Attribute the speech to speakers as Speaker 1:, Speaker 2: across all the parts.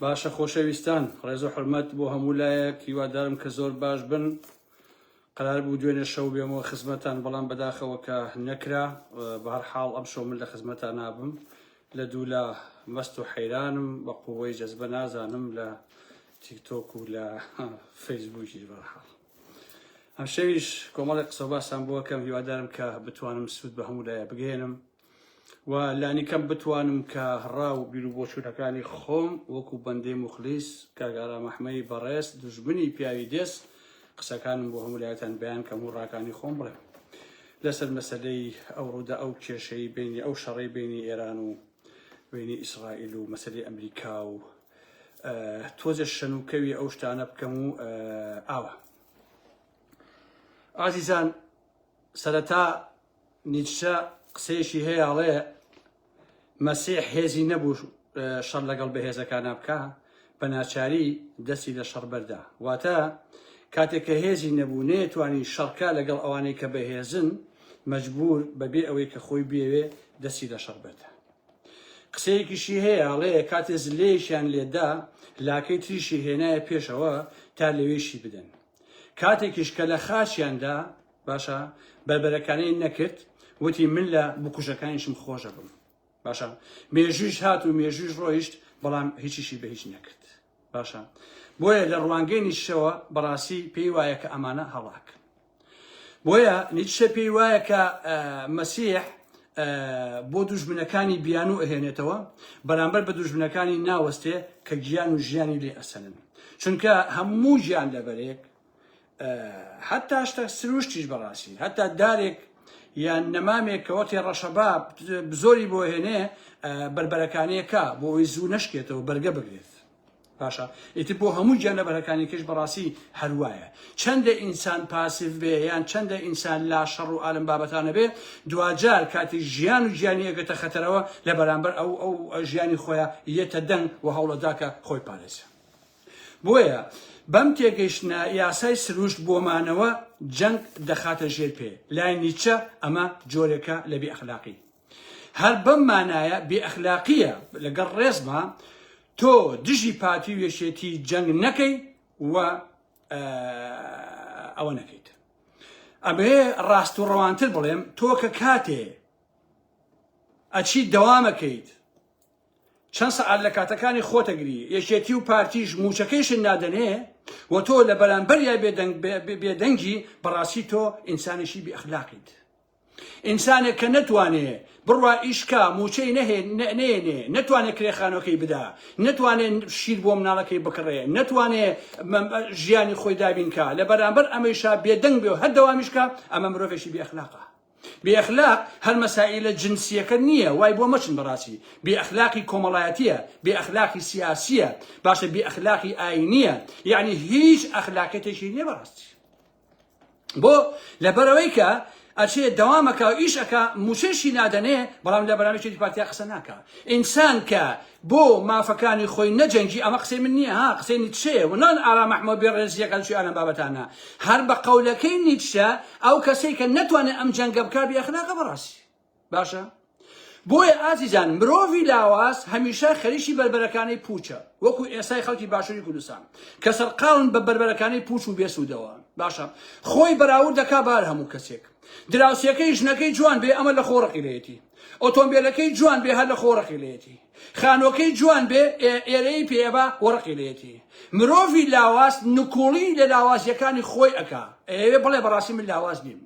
Speaker 1: باشە خۆشەویستان ڕێز و حرمەت بۆ هەموو لایەک هیوادارم کە زۆر باش بن قرار بوو دوێنێ شەو بێمەوە خزمەتان بەڵام بەداخەوە کە نەکرا بەهر حاڵ ئەم شەو من لە خزمەتان نابم لە دوو لە مەست و حەیرانم بە قوەی جەزبە نازانم لە تیکتۆک و لە فەیسبووکی بەرحاڵ ئەم شەویش کۆمەڵی قسە باسان بۆ کەم هیوادارم کە بتوانم سوود بە هەموو لایە بگەێنم و لانیکەم بتوانم کە ڕا و بیر و بۆچوونەکانی خۆم وەکو بەندەی مخلیس کاگارا مەحمەی بەڕێز دژبنی پیاوی دێس قسەکانم بۆ هەموو لایەتان بەیان کەم و ڕاکانی خۆم بڵێم لەسەر مەسلەی ئەو ڕوودا ئەو کێشەی بینی ئەو شەڕی بینی ئێران و بینی ئیسرائیل و مەسلەی ئەمریکا و تۆزێ شەنوکەوی ئەو شتانە بکەم و ئاوە ئازیزان سەرەتا نیچە قسەیەشی هەیەڵێ مەسیح هێزی نەبوو شەڕ لەگەڵ بەهێزەکانە بکە بە ناچاری دەستی لە شەڕ بەردا واتە کاتێک کە هێزی نەبوو نێتوانی شەڕکە لەگەڵ ئەوانەی کە بەهێزن مەجبور بەبێ ئەوەی کە خۆی بێوێ دەستی لە شەڕ بەردا قسەیەکیشی هەیە ئەڵێ کاتێ زلەیەکیان لێدا لاکەی تریشی هێنایە پێشەوە تا لەوێ شی بدەن کاتێکیش کە لە خاچیاندا باشە بەربەرەکانی نەکرد وتی من لە بکوژەکانیشم خۆشە بم باشە مێژویش هات و مێژویش ڕۆیشت بەڵام هیچیشی بە هیچ نەکرد باشە بۆیە لە ڕوانگەی نیشەوە بەڕاستی پێی وایە کە ئەمانە هەڵاک بۆیە نیتشە پێی وایە کە مەسیح بۆ دوژمنەکانی بیانوو ئەهێنێتەوە بەرامبەر بە دوژمنەکانی ناوەستێ کە گیان و ژیانی لێ ئەسەنن چونکە هەموو گیان لەبەرێک حتا شتە سروشتیش بەڕاستی هەتا دارێک یان نەمامێک کە وەختی ڕەشەبا زۆری بۆ هێنێ بربەرەکانەکە بۆ ئەوی زوو نشکێتەوە بەرگە بگرێت باشە ئیتر بۆ هەموو گیانلەبەرەکانیکەش بەڕاستی هەروایە چەندە ئینسان پاسیڤ بێ یان چەندە ئینسان لا شەڕ و ئالم بابەتانە بێ دواجار کاتی ژیان و گیانی ئەگەتە خەتەرەوە لە بەرامبەر ئەو ئەو ژیانی خۆیە یەتە دەنگ و هەوڵەداکە خۆی پارێزە بۆیە بەم تێگەیشتە یاسای سروشت بۆ مانەوە جەنگ دەخاتە ژێر پێ لای نیچە ئەمە جۆرێکە لە بێ ئەخلاقی هەر بەم مانایە بێ ئەخلاقیە لەگەڵ ڕێزما تۆ دژی پارتی و یەکێتی جەنگ نەکەی و ئەوە نەکەیت ئەبێ ڕاست و ڕەوانتر بڵێم تۆ کە کاتێ ئەچی دەوامەکەیت چەند سەعات لە کاتەکانی خۆتەگری یەکێتی و پارتیش موچەکەیشن نادەنێ و تۆ لە بەرامبەریا بێدەنگی بەڕاستی تۆ ئینسانێکی بێخلاقیت ئینسانێک کە نەتوانێ بڕوا ئیش کا، مووچەی نەهێنێ، نەتوانێ کرێ خانووەکەی بدا، نەتوانێ شیر بۆ مناڵەکەی بکڕێ، نەتوانێ ژیانی خۆی دابین کا، لە بەرامبەر ئەمەیشا بێدەنگ بێ و هەر دەوامیش کا، ئەمە مرۆڤێکی بێ ئەخلاقە. بێ ئەخلاق هەر مەسائیلە جنسییەکە نییە، وای بۆ مەچن بەڕاستی، بێ ئەخلاقی کۆمەڵایەتییە، بێ ئەخلاقی سیاسییە، باشە بێ ئەخلاقی ئایینییە، یەعنی هیچ ئەخلاقیەتێکی نییە بەڕاستی. بۆ لەبەرەوەی کە ئەچێ دەوامەکە و ئیش ئەک موچەشی نادەنێ بەڵام لە بەرامیی پارتیا قسە ناکە ئینسان کە بۆ مافەکانی خۆی نەجەنگی ئەمە قسەی من نییە ها قسەی نیچێ ونان ئارا مححمە بێڕێزیەکانشی ئالە بابەتانە هەر بە قەولەکەی نیچە ئەو کەسێک کە نتوانێت ئەم جەنگە بکە بێخناکە بەڕاستی باشە بۆیە ئازیزان مرۆڤی لاواز هەمیشە خەریکی بەربەرەکانی پوچە وەکو ئێسای خەڵکی باشووری کوردستان کە سەرقاون بە بەربەرەکانی پوچ و بێسوودەوە باشە خۆی بەراورد دەکا بار هەموو کەسێک دراوسێکەی ژنەکەی جوان بێ ئەمە لە خۆڕقی لەیەتی ئۆتۆمبیلەکەی جوان بێ هەر لە خۆڕقی لەیەتی خانوەکەی جوان بێ ئێرەیی پێیەبا و ڕقی لێیەتی. مرۆڤی لاواز نکوڵی لە لاوازیەکانی خۆی ئەکا ئەیەوێ بڵێ بەڕاستی من لاواز نیم.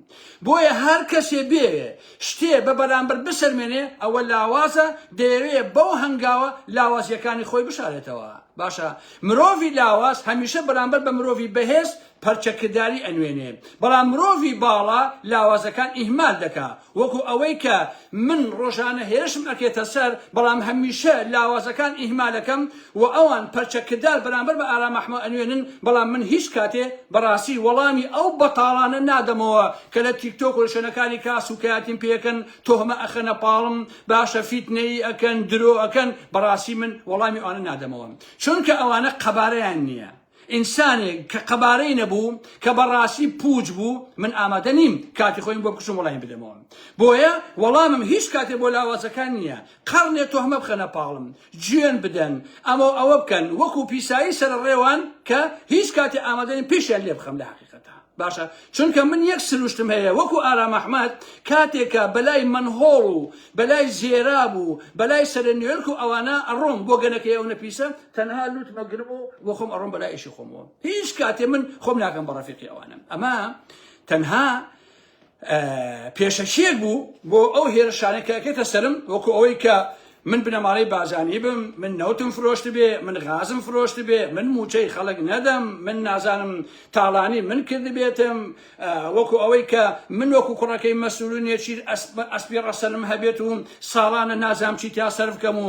Speaker 1: بۆیە هەر کەسێ بیەوێ شتێ بە بەرامبەر بسەلمێنێ ئەوە لاوازە دەیەوێ بەو هەنگاوە لاوازیەکانی خۆی بشارێتەوە. باشە مرۆڤی لاواز هەمیشە بەرامبەر بە مرۆڤی بەهێز پەرچەکرداری ئەنوێنێ بەڵام مرۆڤی باڵا لاوازەکان ئیهمال دەکا وەکو ئەوەی کە من ڕۆژانە هێرشم ئەکرێتە سەر بەڵام هەمیشە لاوازەکان ئیهمالەکەم و ئەوان پەرچە کردار بەرامبەر بە ئارام ئەحمە ئەنوێنن بەڵام من هیچ کاتێ بەڕاستی وەڵامی ئەو بەتاڵانە نادەمەوە کە لە تیکتۆک و لە شوێنەکانی کار سوکایەتیم پێ ئەکەن تۆهمە ئەخەنە پاڵم باشە فیتنەیی ئەکەن درۆ ئەکەن بەڕاستی من وەڵامی ئەوانە نادەمەوە چونکە ئەوانە قەبارەیان نیە ئینسانێک کە قەبارەی نەبوو کە بەڕاستی پووچ بوو من ئامادە نیم کاتی خۆیم بۆ بکوشم وەڵامی بدەمەوە بۆیە وەڵامم هیچ کاتێ بۆ لاوازەکان نییە قەڕنێ تۆهمە بخەنە پاڵم جوێن بدەن ئەمە و ئەوە بکەن وەکو پیسایی سەرە ڕێوان کە هیچ کاتێ ئامادە نیم پێشیان لێ بخەم لە حەقیقەتە باشە چونکە من یەک سروشتم هەیە وەکو ئارام ئەحمەد کاتێکە بەلای مەنهۆڵ و بەلای زێراب و بەلای سەرە نیوێرک و ئەوانە ئەڕۆم بۆ گەنەکەی ئەو نەپیسە تەنها لوت مەگرم و بۆ خۆم ئەڕۆم بەلای ئیشی خۆمەوە هیچ کاتێ من خۆم ناکەم بە ڕەفیقی ئەوانم ئەمە تەنها پێشەکیەک بوو بۆ ئەو هێرشانەکەکەتە سرم وەکو ئەوەی کە من بنەماڵەی بازانی بم من نەوتم فرۆشت بێ من غازم فرۆشت بێ من موچەی خەڵک نەدەم من نازانم تاڵانی من کرد بێتم وەکو ئەوەی کە من وەکو کوڕەکەی مەسولونێکی ئەسپی ڕەسەنم هەبێت و ساڵانە نازام چی تا سەرف کەم و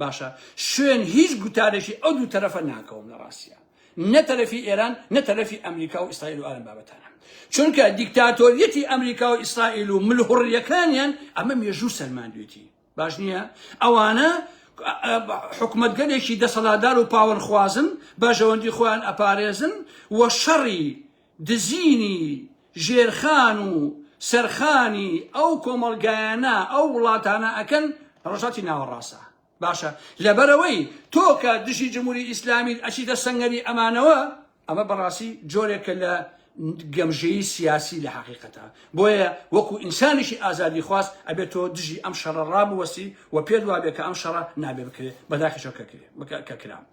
Speaker 1: باشە شوێن هیچ گوتارێکی ئەو دوو تەرەفە ناکەوم لە ڕاستە نە تەرەفی ئێران نە تەرەفی ئەمریکا و ئیسرائیل و ئارم بابەتانە چونکە دیکتاتۆریەتی ئەمریکا و ئیسرائیل و ملهوڕیەکانیان ئەمە مێژوو سەلماندوێتی باش نییە ئەوانە حکومتگەلێکی دەسەڵادار و پاوەرخوازن بەژەوەندی خۆیان ئەپارێزن و شەڕی دزینی ژێرخان و سەرخانی ئەو کۆمەڵگایانە ئەو وڵاتانە ئەکەن ڕۆژهەڵتی ناوەڕاستە باشە لەبەرەوەی تۆ کە دژی جمهوری ئیسلامیت ئەچیتە سەنگەری ئەمانەوە ئەمە بەڕاستی جۆرێکە لە گەمژەیی سیاسی لە حقیقەتە بۆیە وەکو ئینسانیشی ئازادی خواست ئەبێت تۆ دژی ئەم شەڕە ڕابوەستی و پێت وابێت کە ئەم شەڕە نابێ بکرێت بەداخیشەوە کە کرێ کە کرام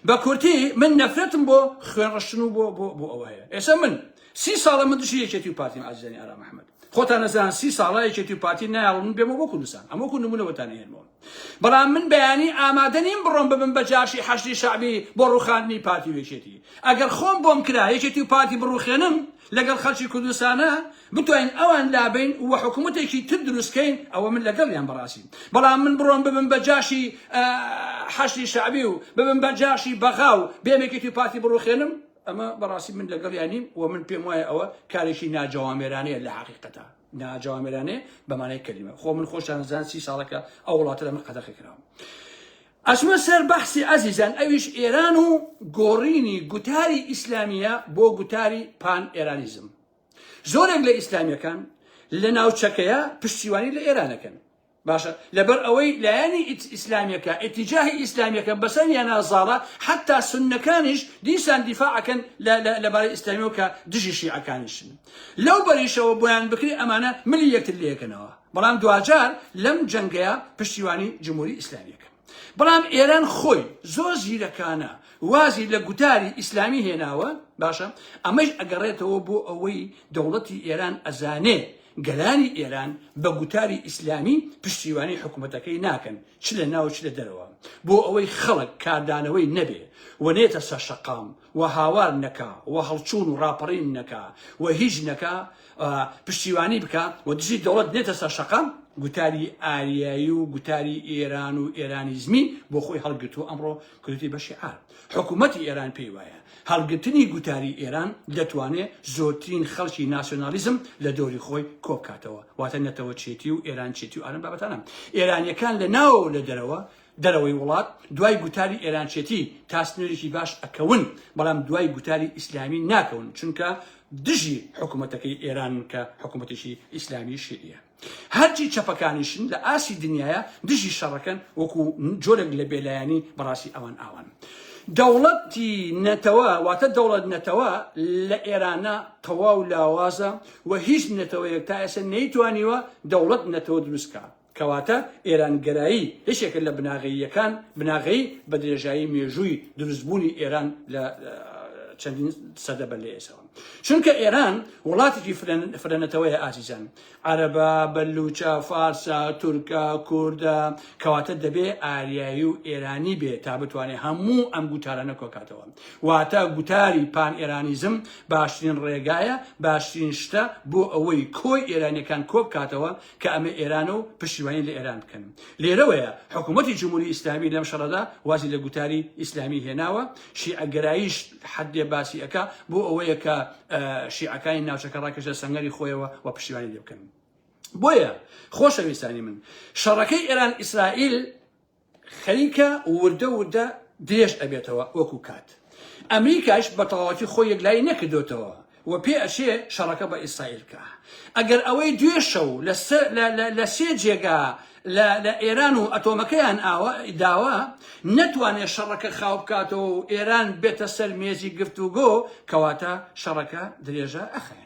Speaker 1: بە کورتی من نەفرەتم بۆ خوێن ڕشتن و بۆ بۆ بۆ ئەوە هەیە ئێستا من سی ساڵە من دژی یەکێتی و پارتیم ئازیزانی ئارام محمد خۆتان نەزان سی ساڵە یەکێتی و پارتی نایڵ من بێمە بۆ کوردستان ئەمە کو نمونەوەتان هێنمەوە بەڵام من بەیانی ئامادە نیم بڕۆم ببم بە جاشی حەشدی شعبی بۆ ڕوخاندنی پارتی و یەکێتی ئەگەر خۆم بۆم کرا یەکێتی و پارتی بڕوخێنم لەگەڵ خەڵکی کوردستانە بتوانین ئەوان لابەین و حکومەتێکی تر دروستکەین ئەوە من لەگەڵیان بەڕاستی بەڵام من بڕۆم ببم بە جاشی حەشدی شەعبی و ببم بە جاشی بەغا و بێم یەکێتی پارتی بڕوخێنم ئەمە بەڕاستی من لەگەڵیان نیم و من پێم وایە ئەوە کارێکی ناجەوامێرانەیە لە حقیقەتە ناجەوامێرانەیە بەمانای کەلیمە خۆ من خۆشیان زان سی ساڵەکە ئەو وڵاتە لە من قەدەخی کراوە ئەسمە سەر بەحسی ئازیزان ئەویش ئێران و گۆڕینی گوتاری ئیسلامیە بۆ گوتاری پان ئێرانیزم زۆرێک لە ئیسلامیەکان لە ناوچەکەیە پشتیوانی لە ئێرانەکەن باشە لەبەر ئەوەی لایەنی ئیسلامیەکە ئتیجاهی ئیسلامیەکە بەسەر یانازاڵە حتا سنەکانیش دیسان دیفاعەکەن لەبارەی ئیسلامیەوە کە دژی شیعەکانیشن لەو بەریشەوە بۆیان بکری ئەمانە ملی یەکتر لەکەنەوە بەڵام دواجار لەم جەنگەیە پشتیوانی جمهوری ئیسلامیەکەن بەڵام ئێران خۆی زۆر زیرەکانە وازی لە گوتاری ئیسلامی هێناوە باشە ئەمەش ئەگەڕێتەوە بۆ ئەوەی دەوڵەتی ئێران ئەزانێ گەلانی ئێران بە گوتاری ئیسلامی پشتیوانی حکوومەتەکەی ناکەن چ لە ناو چ لە دەرەوە بۆ ئەوەی خەڵک کاردانەوەی نەبێ و نێتە سەر شەقام و هاوار نەکا و هەڵچوون و ڕاپەڕین نەکا و هیچ نەکا پشتیوانی بکا و دژی دەوڵەت نێتە سەر شەقام، گوتاری ئاریایی و گوتاری ئێران و ئێرانیزمی بۆ خۆی هەڵگرت و ئەمڕۆ کردووەتی بە شیعار. حکوومەتی ئێران پێی وایە هەڵگرتنی گوتاری ئێران دەتوانێ زۆرترین خەڵکی ناسیۆنالیزم لە دەوری خۆی کۆ بکاتەوە، واتە نەتەوەچێتی و ئێرانچێتی و ئالەم بابەتانە ئێرانییەکان لە ناوەوە و لە دەرەوە دەرەوەی وڵات دوای گوتاری ئێرانچێتی تا سنوورێکی باش ئەکەون، بەڵام دوای گوتاری ئیسلامی ناکەون، چونکە دژی حکومەتەکەی ئێرانن کە حکومەتێکی ئیسلامی شیعیە. هەرچی چەپەکانیشن لە ئاستی دنیایە دژی شەڕەکەن وەکو جۆرێک لە بێلایەنی بەڕاستی ئەوان ئاوان. دەوڵەتی نەتەوە واتە دەوڵەت نەتەوە لە ئێرانە تەواو لاوازە و هیچ نەتەوەیەک تا ئێستا نەیتوانیوە دەوڵەت نەتەوە دروست کات. کەواتە ئێرانگەرایی یەکێکە لە بناغەییەکان، بناغەی بە درێژایی مێژووی دروستبوونی ئێران لە چەندین سەدە بەر لە ئێسەوە. چونکە ئێران وڵاتێکی فرەنەتەوەیە ئازیزان، عەرەبە، بەلوچە، فارسە، تورکە، کوردە، کەواتە دەبێ ئاریایی و ئێرانی بێ تا بتوانێ هەموو ئەم گوتارانە کۆکاتەوە. واتە گوتاری پان ئێرانیزم باشترین ڕێگایە، باشترین شتە بۆ ئەوەی کۆی ئێرانیەکان کۆبکاتەوە کە ئەمە ئێرانە و پشتیوانی لە ئێران بکەن لێرەوەیە حکوومەتی جمهوری ئیسلامی لەم شەڕەدا وازی لە گوتاری ئیسلامی هێناوە شیعەگەراییش حدێ باسی ئەکا بۆ ئەوەیە کە شیعەکانی ناوچەکە ڕاکەشە سەنگەری خۆیەوە و پشتیوانی لێ بکەن بۆیە خۆشەویستانی من شەڕەکەی ئێران ئیسرائیل خەریکە وردە وردە درێژ ئەبێتەوە وەکو کات ئەمریکاش بە تەواوەتی خۆی یەکلایی نەکردوێتەوە و پێ ئەچێ شەڕەکە بە ئیسرائیل کا ئەگەر ئەوەی دوێ شەو لە سێ جێگا لە ئێران و ئەتۆمەکەیان داوە نەتوانێت شەڕەکە خاو بکاتەوە و ئێران بێتە سەر مێزی گفتوگۆ کەواتە شەڕەکە درێژە ئەخەیە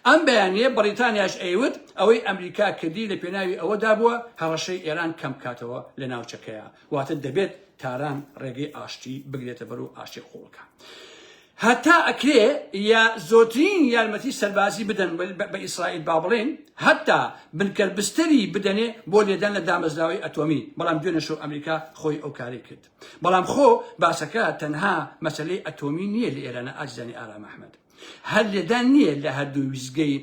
Speaker 1: ئەم بەیانییە بەڕیتانیاش ئەیوت ئەوەی ئەمریکا کردی لە پێناوی ئەوەدا بووە هەڕەشەی ئێران کەم بکاتەوە لە ناوچەکەیا، واتە دەبێت تاران ڕێگەی ئاشتی بگرێتە بەر و ئاشتی قووڵ بکا. هەتا ئەکرێ یا زۆترین یارمەتی سەربازی بدەن بە ئیسرائیل با بڵێن هەتا بنکەر بستری بدەنێ بۆ لێدان لە دامەزراوەی ئەتۆمی بەڵام دوێنەشەو ئەمریکا خۆی ئەو کاری کرد بەڵام خۆ باسەکە تەنها مەسلەی ئەتۆمی نییە لە ئێرانە ئازیزانی ئارام ئەحمەد هەر لێدان نییە لە هەردوو ویستگەی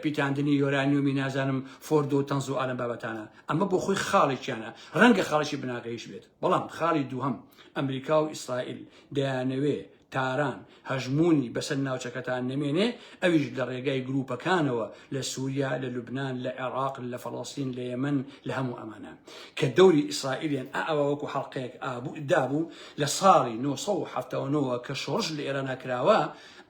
Speaker 1: پیتاندنی یۆرانیۆمی نازانم فۆردۆ و تەنز و ئالەم بابەتانە ئەمە بۆ خۆی خاڵێکیانە ڕەنگە خاڵێکی بناغەیش بێت بەڵام خاڵی دووهەم ئەمریکا و ئیسرائیل دەیانەوێ تاران هەژمونی بەسەر ناوچەکەتان نەمێنێ ئەویش لە ڕێگای گروپەکانەوە لە سووریا لە لوبناان لە عێراق لە فەڵەستین لە یەمەن لە هەموو ئەمانە کە دەوری ئیسرائیلیان ئاوا وەکو حەڵقەیەک ئابوو دابوو لە ساڵی نۆ سەد و حەفتا و نۆ وە کە شۆڕش لە ئێرانا کراوە،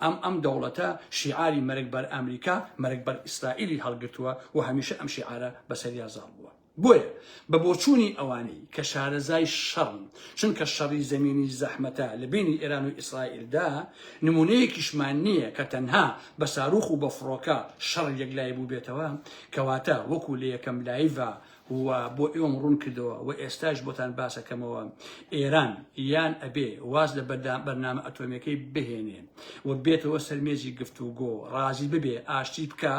Speaker 1: ئەم ئەم دەوڵەتە شیعاری مەرگ بەر ئامریکا، مەرگ بەر ئیسرائیلی هەڵگرتووە و هەمیشە ئەم شیعارە بەسەریا زاڵ بووە. بۆیە بە بۆچوونی ئەوانەی کە شارەزای شەڕن، چونکە شەڕی زەمینی زەحمەتە لە بەینی ئێران و ئیسرائیلدا، نموونەیەکیشمان نییە کە تەنها بە سارووخ و بە فڕۆکە شەڕ یەکلایی بووبێتەوە، کەواتە وەکوو لە یەکەم لایڤا و بۆ ئێوەم ڕوون کردەوە و ئێستاش بۆتان باسەکەمەوە ئێران یان ئەبێ واز لە بەردام بەرنامە ئەتۆمیەکەی بهێنێ و بێتەوە سەرمێزی گفت و گۆ ڕازی ببێ ئاشتی بکە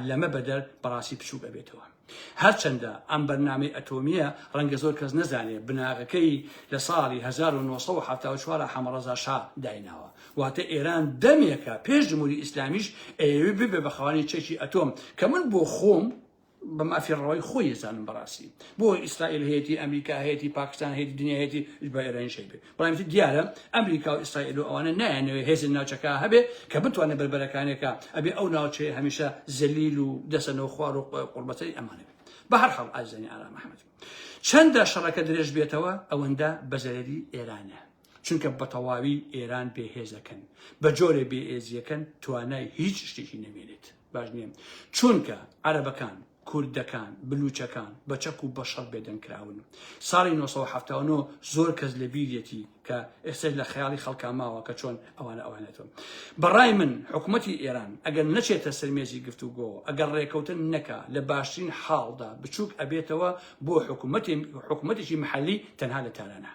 Speaker 1: لەمە بەدەر بەڕاستی بچووک ئەبێتەوە هەرچەندە ئەم بەرنامەی ئەتۆمیە ڕەنگە زۆر کەس نەزانێ بناغەکەی لە ساڵی 1970 حەمەڕەزا شا دایناوە واتە ئێران دەمێکە پێش جمهوری ئیسلامیش ئەوێ ببێ بە خاوەنی چەکی ئەتۆم کە من بۆ خۆم بە مافی ڕەوای خۆی یەزانم بەڕاستی بۆ ئیسرائیل هەیەی ئەمریکا هەیەی پاکستان هەیە دنیا هەیەی بە ئێرانی شەی بێت بەڵام دیارە ئەمریکا و ئیسرائیل و ئەوانە نایەنەوەی هێز ناوچەکە هەبێت کە بتوانێت بەربەرەکانێکە ئەبێ ئەو ناوچەیە هەمیشە زەلیل و دەسەنەوە خوار و قوربەتەی ئەمانە بێت بە هەر حاڵ ئازانی ئارام محەممەد چەندە شەڕەکە درێژ بێتەوە ئەوەندە بەزەرەری ئێرانە چونکە بە تەواوی ئێران بێهێزەکەن بە جۆرە بێئێزیەکەن توانای هیچ شتێکی نەمێنێت باش نیە چونکە عەرەبەکان، کوردەکان، بلوچەکان بە چەک و بە شەڕ بێدەنگ کراون. ساڵی نۆ سەد و حەفتا و نۆ زۆر کەس لە بیریەتی کە ئێستەش لە خەیاڵی خەڵکا ماوە کە چۆن ئەوانە ئەوانێتەوە. بە ڕای من حکوومەتی ئێران ئەگەر نەچێتە سەر مێزی گفتوگۆوە، ئەگەر ڕێکەوتن نەکا لە باشترین حاڵدا بچووک ئەبێتەوە بۆ حکوومەتی حکوومەتێکی محەلی تەنها لە تارانە.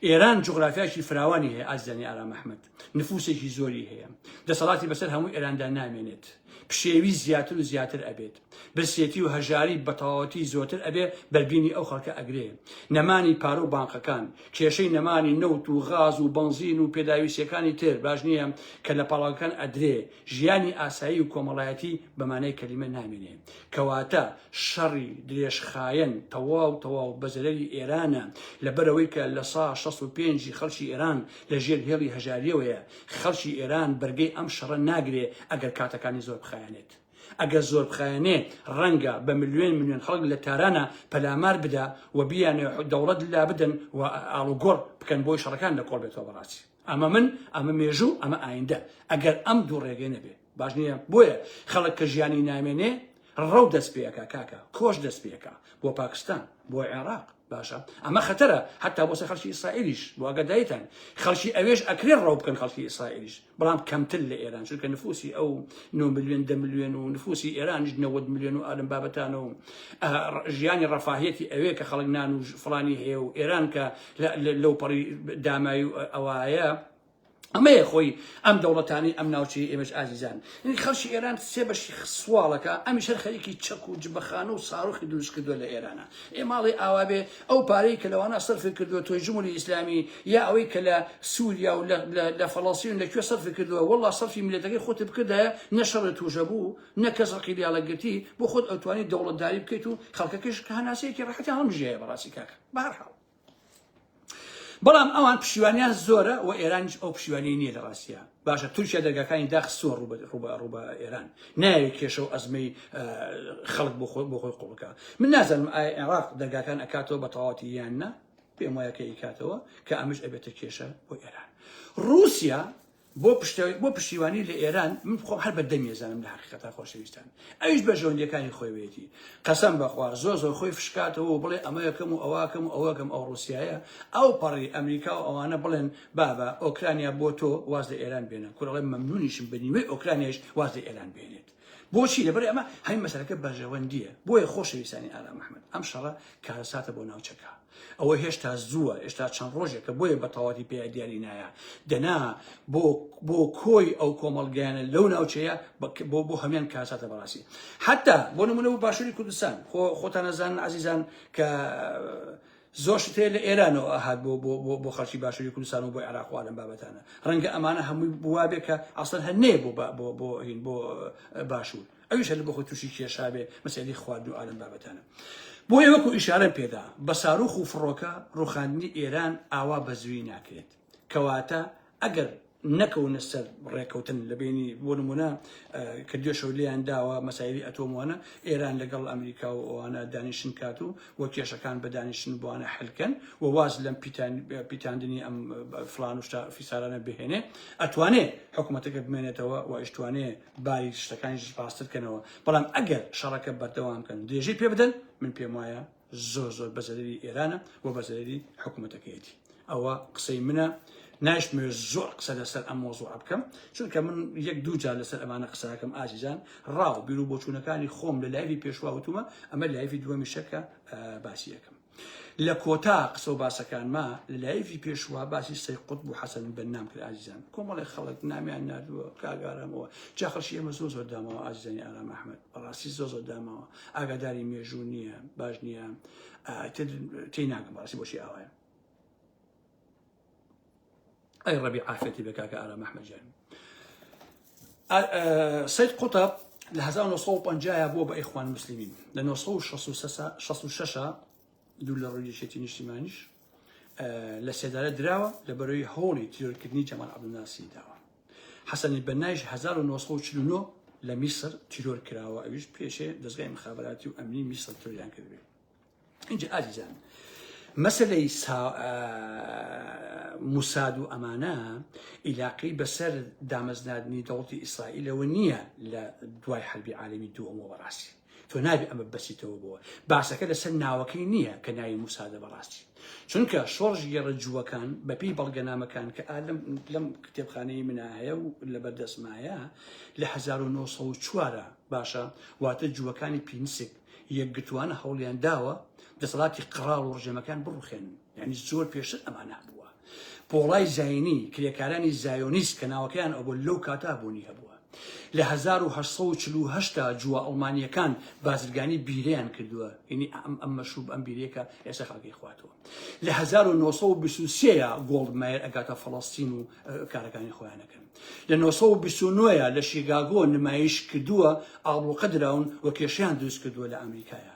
Speaker 1: ئێران جوغرافیایەکی فراوانی هەیە ئازیزانی ئارام ئەحمەد. نفوسێکی زۆری هەیە دەسەڵاتی بەسەر هەموو ئێراندا نامێنێت پشێوی زیاتر و زیاتر ئەبێت برسێتی و هەژاری بەتەواوەتی زۆتر ئەبێ بەربینی ئەو خەڵکە ئەگرێ نەمانی پارە و بانقەکان کێشەی نەمانی نەوت و غاز و بەنزین و پێداویستەکانی تر باش نییە کە لە پاڵاکان ئەدرێ ژیانی ئاسایی و کۆمەڵایەتی بەمانای کەلیمە نامێنێ کەواتە شەڕی درێژخایەن تەواو تەواو بەزەرەری ئێرانە لەبەرەوەی کە لە سا 65 خەڵکی ئێران لە ژێر هێڵی هەژاریەوەیە، خەڵکی ئێران بەرگەی ئەم شەڕە ناگرێ ئەگەر کاتەکانی زۆر بخایەنێت. ئەگەر زۆر بخایەنێ ڕەنگە بە ملیۆن ملیۆن خەڵک لە تارانە پەلامار بدا و بیانەوێ دەوڵەت لابدەن و ئاڵوگۆڕ بکەن بۆی شەڕەکان لە کۆڵ بێتەوە بە ڕاستی. ئەمە من، ئەمە مێژوو، ئەمە ئایندە. ئەگەر ئەم دوو ڕێگەی نەبێ. باش نییە بۆیە خەڵک کە ژیانی نامێنێ ڕەو دەست پێەکە کاکە کۆش دەست پێەکە بۆ پاکستان بۆ عێراق باشە ئەمە خەتەرە حتا بۆ سە خەڵکی ئیسرائیلیش بۆگە دایتان خەڵکی ئەوێش ئەکرێ ڕەو بکەن خەڵکی ئیسرائیلیش بەڵام کەمتر لە ئێران چونکە نفوسی ئەو 9 میلیۆن دە میلیۆن و نفوسی ئێرانیش 90 میلیۆن و ئالم بابەتان و ژیانی ڕەفاهەتی ئەوێ کە خەڵک نان و فلانی هەیە و ئێران کە لەو پەڕی دامای و ئەوایە ئەمەیە خۆی ئەم دەوڵەتانی ئەم ناوچەی ئێمەش ئازیزان یعنی خەڵکی ئێران سێ بەشی سواڵەکە ئەمی شەر خەریکی چەک و جبەخانە و ساڕۆخی دروست کردووە لە ئێرانە ئێ ماڵی ئاوابێ ئەو پارەی کە لەوانە سەرفی کردووە تۆی جمهوری ئیسلامی یا ئەوەی کە لە سووریا و لە فەڵەستین لە کوێ سەرفی کردووە والله سەرفی میلەتەکەی خۆت بکردایە نە شەڕی تووشە بوو نە کەس ڕقی لیاڵە گرتی بۆ خۆت ئەوتوانی دەوڵەتداری بکەیت و خەڵکەکەش کە هەناسەیەکی ڕەحەتیان هەڵمژایە بەڕاستی کاکە بەهەرحاڵ بەڵام ئەوان پشیوانیان زۆرە و ئێرانیش ئەو پشیوانی نییە لە ڕاستە باشە تورکیا دەرگاکانی داخستوە ڕوبە ئێران ناوی کێشە و ئەزمەی خەڵک بۆ خۆی بۆ خۆی قوڵکە من نازانم ئایا عێراق دەرگاکان ئەکاتەوە بە تەواتی یان نە پێم وایە کە ئیکاتەوە کە ئەمش ئەبێتە کێشە بۆ ئێران رووسیا بۆ پشت بۆ پشتیوانی لە ئێران من بخۆم هەر بە دەمی زانم لە حقیقەتا خۆشەویستان ئەویش بە ژەوندەکانی خۆیوێتی قەسەم بەخوا زۆر زۆر خۆی فشکاتەوە و بڵێ ئەمەکەم و ئەوواکەم و ئەوەکەم ئەو ڕوسایە ئەو پەڕی ئەمریکا و ئەوانە بڵێن بابە ئۆکرانیا بۆ تۆ واز لە ئێران بێنە کورەڵێ مەمنونیشم بە نیوەی ئۆکرانیش واز لە ئێران بێنێت بۆچی لەبەر ئەمە هەی مەسەرەکە بەرژەوەندیە بۆیە خۆشەویستانی ئارام محمد ئەم شەڕە کارەساتە بۆ ناوچەکە ئەوە هێشتا زووە هێشتا چەند ڕۆژێکە بۆیە بە تەواتی پێ دیاری نایە دەنا بۆ بۆ کۆی ئەو کۆمەڵگەیانە لەو ناوچەیە بۆ بۆ هەمان کاساتە بەڕاستی حتا بۆ نمونە بۆ باشووری کوردستان خۆ خۆتان نەزان عزیزان کە زۆر شت هەیە لە ئێرانەوە ئەهات بۆ بۆ بۆ بۆ خەڵکی باشووری کوردستان و بۆی عێراق و عالەم بابەتانە ڕەنگە ئەمانە هەمووی بوا بێ کە عەسەن هەر نەیە بۆ با- بۆ بۆ هین بۆ اه، باشوور ئەویش هەر بۆ خۆی تووشی کێشا بێ مەسەلەی خواردن و عالەم بابەتانە بۆیە وەکو ئیشارەم پێدا بە ساروخ و فڕۆکە ڕوخاندنی ئێران ئاوا بە زوویی ناکرێت کەواتە ئەگەر نەکەونە سەر ڕێکەوتن لە بەینی بۆ نمونە کە دێشەوە لێیان داوە مەسایلی ئەتۆم وانە ئێران لەگەڵ ئەمریکا و ئەوانە دانیشن کات و و کێشەکان بە دانیشن بۆانە حلکەن و واز لەم پیتاندنی ئەم فلان و فیسارانە بهێنێ ئەتوانێ حکوومەتەکە بمێنێتەوە و ئیشتوانێ باری شتەکانی پاستر کەنەوە بەڵام ئەگەر شەڕەکە بەردەوام کەن درێژەی پێ بدەن من پێم وایە زۆر زۆر بە زەرەری ئێرانە و بە زەرەری حکوومەتەکەیەتی ئەوە قسەی منە ناشتمەوێت زۆر قسە لەسەر ئەم مۆزوع بکەم چونکە من یەک دوو جار لەسەر ئەمانە قسەکەم ئازیزان ڕاو بیر و بۆچوونەکانی خۆم لە لایوی پێشواوتومە ئەمە لایوی دووەمی شەکە باسیەکەم لە کۆتا قسە و باسەکانما لە لایوی پێشوا باسی سەی قوت بوو حەسەن بە نام کرد ئازیزان کۆمەڵی خەڵک نامیان نردووە کاگارامەوە جاخەشی ئێمە زۆ زۆر دامەوە ئازیزانی ئارام ئەحمد بەڕاستی زۆ زۆر دامەوە ئاگاداری مێژوو نییە باش نییە تی ناکەم باسی بۆشی ئاوایە ئەی ڕەبی ئافەتی بە کاکە ئارام ئەحمەجان سید قوتە لە 1950 بووە بە ئەیخوان مسللمین لە 1966 دوو لە ڕوویشێتی نیشتیمانیش لە سێدارە دراوە لە بەرەوەی هۆڵی تیرۆرکردنی جەمان عبدناسی داوە حەسەن البەننایش هەزار و نۆ سەد و چل و نۆ لە میسر تیرۆر کراوە ئەویش پێشێ دەزگای مخابراتی و ئەمنی میسر تۆریان کردبێ اینجا ئازیزان مەسلەی موساد و ئەمانە ئیلاقی بەسەر دامەزنادنی دەوڵی ئیسرائیلەوە نییە لە دوای حربی عالمی دووەمەوە بەڕاستی تۆ نابێ ئەمە بەسیتەوە بۆ باسەکە لەسەر ناوەکەی نییە کە ناوی موسادە بەڕاستی چونکە شۆڕژ گێڕە جووەکان بەپی بەڵگەنامەکان کە ئالم لەم کتێبخانەی منا هەیە و لە بەردەسمایە لە 1940 باشە واتە جووەکانی پینسک یەکگرتووانە هەوڵیان داوە دەسەڵاتی قڕاڵ و ڕژێمەکان بڕوخێنن یانی زۆر پێشتر ئەمان هەبووە پۆڵای زینی کرێکارانی زایۆنیست کە ناوەکەیان ئەوە لەو کاتا بوونی هەبووە لە 1940 جووە ئەڵمانیەکان بازرگانی بیرەیان کردووە ینی ئەم ئەم مەشوب ئەم بیرێکە ئێستا خەڵکی خواتەوە لە 1920 گۆڵد مایر ئەگاتە فەڵستین و کارەکانی خۆیانەکەن لە 1920 لە شیگاگۆ نمایش کردووە ئاڵوقە دراون و کێشیان دروست کردووە لە ئەمریکایە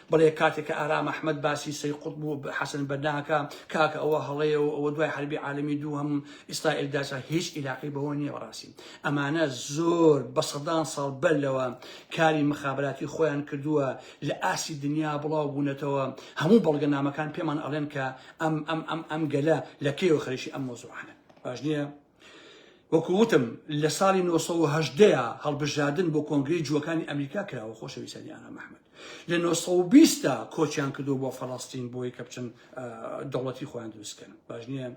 Speaker 1: بەڵێ کاتێک کە ئارام ئەحمەد باسی سەی قوتب و حەسەن بەننا ئەکا کاکە ئەوە هەڵەیە و ئەوە دوای حەربی عالەمی دووهەم و ئیستائیل داچا هیچ ئیلاقەی بەوە نییە بەڕاستی ئەمانە زۆر بە سەدان ساڵ بەر لەوە کاری مخابراتی خۆیان کردووە لە ئاستی دنیا بڵاو بوونەتەوە هەموو بەڵگەنامەکان پێمان ئەڵێن کە ئەم ئەم ئەم ئەم گەلە لە کەیەوە خەریکی ئەم مەوزوعانەن باش نییە؟ وەکو وتم لە ساڵی نۆ سەد و هەژدە ە هەڵبژرادن بۆ کۆنگرەی جووەکانی ئەمریکا کراوە خۆشەویستانی ئارام ئەحمەد لە نۆ سەد و بیست دا کۆچیان کردووە بۆ فەڵەستین بۆی کە بچن ئە، دەوڵەتی خۆیان دروست بکەن باش نییە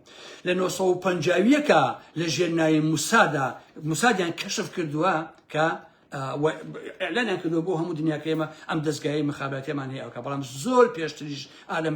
Speaker 1: لە نۆ سەد و پەنجا و یەک ە لە ژێر ناوی موسادا موسادیان کەشف کردووە کە و ئیعلانیان کردووە بۆ هەموو دنیا کە ئێمە ئەم دەستگایە مخاباتیمان هەیە ئەوکە بەڵام زۆر پێشتریش ئالم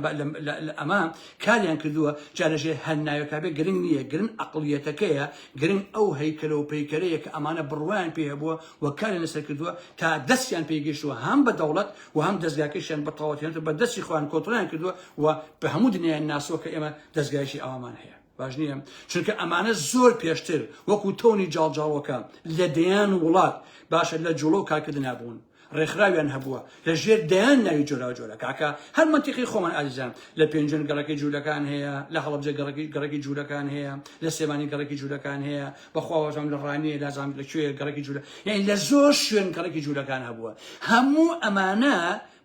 Speaker 1: ئەمە کاریان کردووە جارژێ هەر ناوێکابێ گرنگ نییە گرن ئەقلیەتەکەیە گرنگ ئەو هەیکەلەوە پەیکەرەیە کە ئەمانە بڕوایان پێ هەبووە و کاریان لەسەر کردووە تا دەستیان پێگەشتووە هەم بە دەوڵەت و هەم دەستگاکەشیان بە تەواوەتیان بە دەستی خۆیان کۆتڵیان کردووە و بە هەموو دنیایان ناسووە کە ئێمە دەستگایشی ئەوامان هەیە باش نییە چونکە ئەمانە زۆر پێشتر وەکو تۆنی جاڵجاڵۆکە لە دەیان وڵات باشە لە جوڵە و کارکردنا بوون ڕێکخراویان هەبووە لە ژێر دەیان ناوی جۆرا جۆرە کاکە هەر منتیقی خۆمان ئازیزان لە پێنجن گەڕەکەی جوولەکان هەیە لە هەڵبجە گەڕەکی گەڕەکی جوولەکان هەیە لە سێمانی گەڕەکی جوولەکان هەیە بەخواوەژان لە ڕانیە لە زانام لە کوێ گەڕەکی جوولە یعنی لە زۆر شوێن گەڕەکی جوولەکان هەبووە هەموو ئەمانە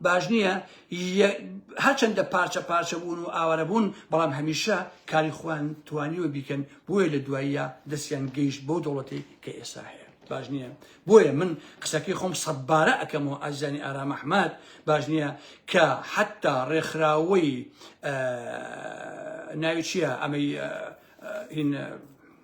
Speaker 1: باش نییە ی هەرچەندە پارچە پارچە بوون و ئاوارە بوون بەڵام هەمیشە کاری خوان توانیوە بیکەن بۆیە لە دواییە دەستیان گەیشت بەو دەوڵەتی کە ئێستا هەیە باش نییە بۆیە من قسەکەی خۆم سەبارە ئەەکەمەوە ئازیزانی ئارام ئەحمد باش نییە کە حتا ڕێکخراوەی ناوی چییە ئەمەی هین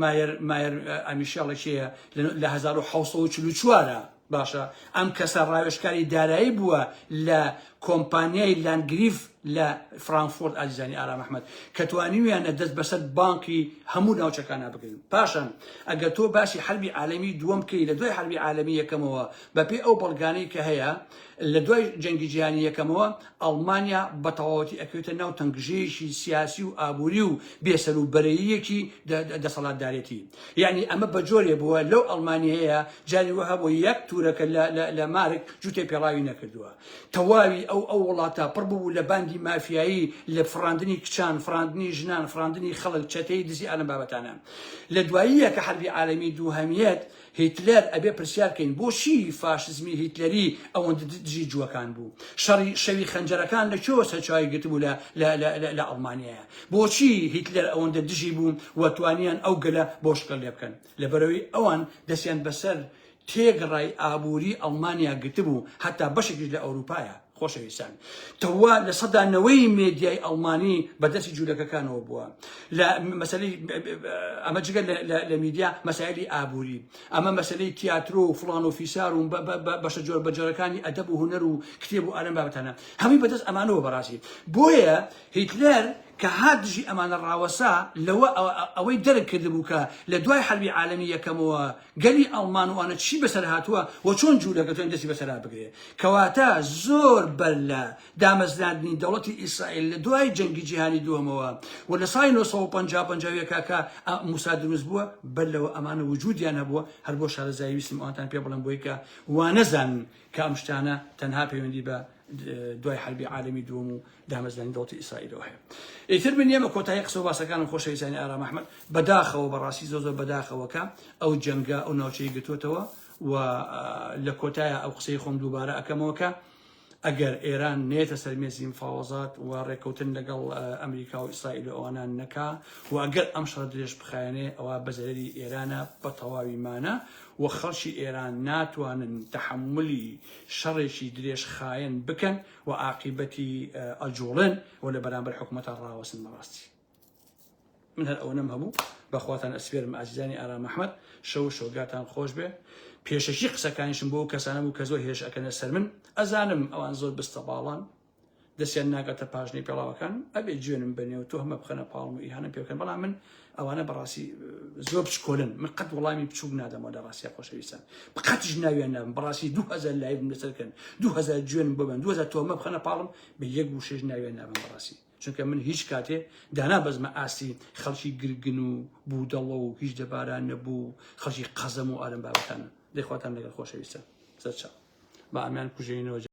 Speaker 1: مایەر مایەر ئەمیشەڵە کێیە لە 1940 ە باشە ئەم کەسە ڕاوێشکاری دارایی بووە لە کۆمپانیای لانگریف لە فرانکفۆرت ئازیزانی ئارام ئەحمد کە توانیویانە دەست بەسەر بانکی هەموو ناوچەکانە بگرن پاشان ئەگەر تۆ باسی حربی عالمی دووەم کەی لە دوای حربی عالمی یەکەمەوە بەپێ ئەو بەڵگانەی کە هەیە لە دوای جەنگی جیهانی یەکەمەوە ئەڵمانیا بە تەواوەتی ئەکەوێتە ناو تەنگژەیەکی سیاسی و ئابووری و بێ سەر و بەرەییەکی دەسەڵاتدارێتی. یەعنی ئەمە بە جۆرێ بووە لەو ئەڵمانیەیە جاری وا هەبووە یەک تورەکە لە مارک جووتێ پێڵاوی نەکردووە. تەواوی ئەو ئەو وڵاتە پڕ ببوو لە باندی مافیایی لە فڕاندنی کچان، فڕاندنی ژنان، فڕاندنی خەڵک، چەتەیی دزی ئالەم بابەتانە. لە دواییە کە حەربی عالەمی دووهەمیەت هیتلەر ئەبێ پرسیار کەین بۆ چی فاشزمی هیتلەری ئەوەندە دژی جووەکان بوو؟ شەڕی شەوی خەنجەرەکان لە کوێوە سەرچاوی گرتبوو لە لە لە لە لە ئەڵمانیایە؟ بۆ چی هیتلەر ئەوەندە دژی بوو و توانیان ئەو گەلە بۆ شکڵ لێ بکەن؟ لەبەرئەوەی ئەوان دەستیان بەسەر تێگڕای ئابووری ئەڵمانیا گرتبوو هەتا بەشێکیش لە ئەورووپایە. خۆشەویستان، تۆوا لە سەدا نەوەی مێدیای ئەڵمانی بە دەستی جوولەکەکانەوە بووە لە مەسەلەی ئەمە جگە لە میدیا مەسایلی ئابووری ئەمە مەسلەی تیاترۆ و فلان و فیسار و بەشە جۆر بەجۆرەکانی ئەدەب و هوەر و کتێب و ئالم بابەتانە هەمی بەدەست ئەمانەوە بەڕاستی بۆیە هیتلەر کە هات دژی ئەمانە ڕاوەسا لەوە ئەوەی دەرک کردبوو کە لە دوای حربی عالمی یەکەمەوە گەلی ئەڵمان و ئانە چی بەسەر هاتووە و چۆن جوولەکە تۆن دەستی بەسەرا بگرێ کەواتە زۆر بەر لە دامەزراندنی دەوڵەتی ئیسرائیل لە دوای جەنگی جیهانی دووەمەوە و لە سای 1950 کاکە موسا دروست بووە بەر لەوە ئەمانە وجودیان هەبووە هەر بۆ شارەزایی ویستم ئەوانتان پێ بڵم بۆی کە وانەزانن کە ئەم شتانە تەنها پەیوەندی بە دوای حربی عالمی دووەم و دامەزرانی دەوڵەتی ئیسرائیلەوە هەیە ئیتر من نیەمە کۆتایی قسە و باسەکانم خۆشەویستانی ئارام ئەحمەد بەداخەوە بەڕاستی زۆر زۆر بەداخەوەکە ئەو جەنگە ئەو ناوچەی گرتوتەوە و لە کۆتایە ئەو قسەی خۆم دووبارە ئەکەمەوەکە ئەگەر ئێران نێتە سەرمێزی مفاوەزات و ڕێککەوتن لەگەڵ ئەمریکا و ئیسرائیل و ئەوانان نەکا و ئەگەر ئەم شەڕ درێژ بخایەنێ ئەوە بەزەرری ئێرانە بە تەواوی مانە و خەڵکی ئێران ناتوانن تحملی شەڕێکی درێژ خایەن بکەن و ئاقیبەتی ئەجوڵێن و لە بەرامبەر حکومەتە ڕاوەسن بەڕاستی من هەر ئەوە نەم هەبوو بەخواتان ئەسپێرم ئازیزانی ئارام ئەحمد شەو و شۆگاتان خۆش بێ پێشەکی قسەکانیشم بۆ کەسانە بوو کە زۆر هێش ئەکەنە سەر من ئەزانم ئەوان زۆر بستە باڵان دەستیان ناگاتە پاژنەی پێڵاوەکان ئەبێ جوێنم بەنێ و تۆهمە بخەنە پاڵم و ئیهانە پێ بکەن بەڵام من ئەوانە بەڕاستی زۆر بچکۆلن من قەت وڵامی بچووک نادەمەوە لە ڕاستیا خۆشەویستان بقەتش ناویان نابم بەڕاستی دو هزار لایڤم لەسەر بکەن دو هزار جوێن ببن دو هزار تۆمە بخەنە پاڵم بە یەک وشەش ناویان نابم بەڕاستی چونکە من هیچ کاتێ دانا بەزمە ئاستی خەڵکی گرگن و بوودەڵە و هیچ دەباران نەبوو خەڵکی قەزەم و ئارم بابەکانە دەخواتان لەگەڵ خۆشەویستان سەرچاو بە ئامیان کوژێنەوە